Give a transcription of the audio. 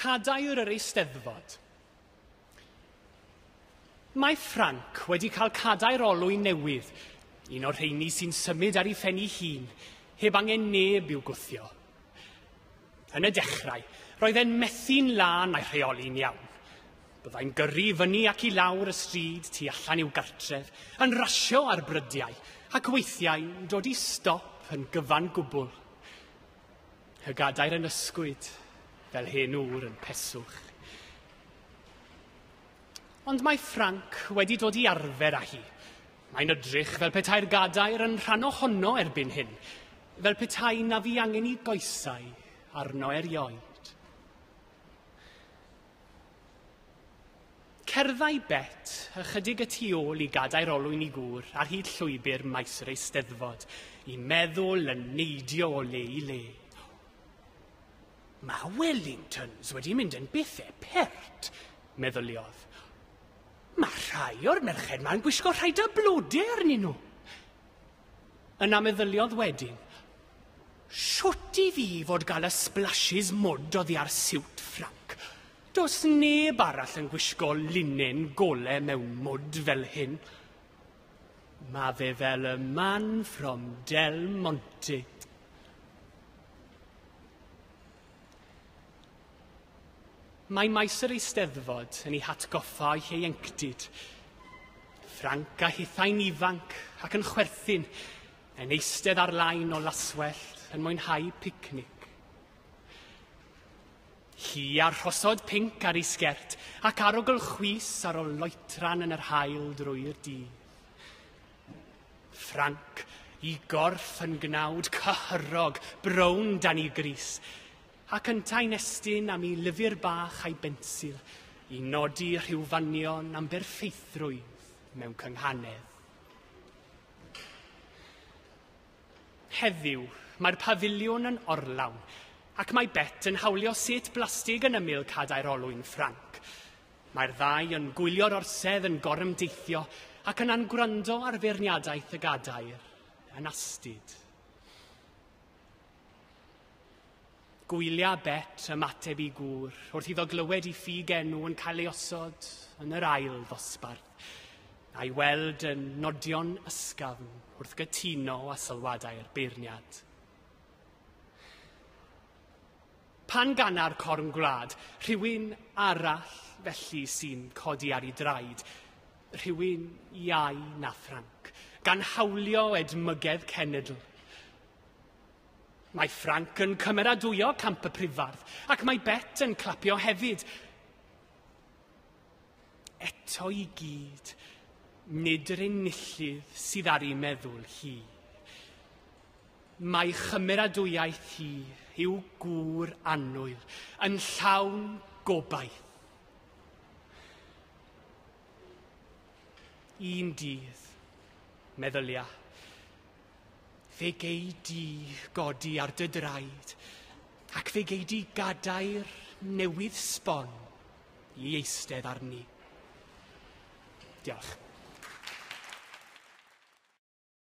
Cadair yr Eisteddfod. Mae Ffranc wedi cael cadair olwyn newydd, un o'r rheini sy'n symud ar ei phen ei hun, heb angen neb i'w gwthio. Yn y dechrau, roedd e'n methu'n lân mae rheoli'n iawn. Byddai'n gyrru fyny ac i lawr y stryd tu allan i'w gartref, yn rasio ar brydiau, ac weithiau'n dod i stop yn gyfan gwbl. Y gadair yn ysgwyd fel hen ŵr yn peswch. Ond mae Frank wedi dod i arfer â hi. Mae'n ydrych fel petai'r gadair yn rhan ohono erbyn hyn, fel petai na fi angen i goesau arno erioed. Cerddai Bet ychydig y tu ôl i gadair olwyn i gŵr ar hyd llwybr maes yr Eisteddfod, i meddwl yn neidio o le i le. Mae Wellingtons wedi mynd yn bethau pert, meddyliodd. Mae rhai o'r merched ma'n gwisgo rhai da blode arnyn nhw. Yna meddyliodd wedyn, Shwt i fi fod gael y splashes mwd oddi ar siwt Ffranc? Does neb arall yn gwisgo linen gole mewn mwd fel hyn. Mae fe fel y man from Del Monte. Mae maes yr eisteddfod yn ei hatgoffa o'i hieuenctid. Ffranc a hithau'n ifanc ac yn chwerthin, yn eistedd ar lain o laswellt yn mwynhau picnic. Hi a'r rhosod pinc ar ei sgert ac arogl chwys ar ôl loetran yn yr haul drwy'r dydd. Ffranc, i gorff yn gnawd cyhyrog, brown dan i gris, ac yntau'n estyn am i lyfr bach a'i bensil i nodi rhyw fanion am berffeithrwydd mewn cynghanedd. Heddiw, mae'r pafiliwn yn orlawn, ac mae Bet yn hawlio set blastig yn ymyl cadair olwyn Ffranc. Mae'r ddau yn gwylio'r orsedd yn gorymdeithio ac yna'n gwrando ar feirniadaeth y gadair yn astud. Gwylia Bet ymateb i gŵr wrth iddo glywed i ffug enw yn cael ei osod yn yr ail ddosbarth, a'i weld yn nodio'n ysgafn wrth gytuno a sylwadau'r beirniad. Pan ganna'r corn gwlad, rhywun arall felly sy'n codi ar ei draed, rhywun iau na Ffranc, gan hawlio edmygedd cenedl. Mae Ffranc yn cymeradwyo Camp y Prifardd, ac mae Bet yn clapio hefyd. Eto i gyd, nid yr enillydd sydd ar ei meddwl hi. Mae chymeradwyaeth hi i'w gŵr annwyl yn llawn gobaith. Un dydd, meddylia, fe gei di godi ar dy draed ac fe gei di gadair newydd sbon i eistedd arni. Diolch.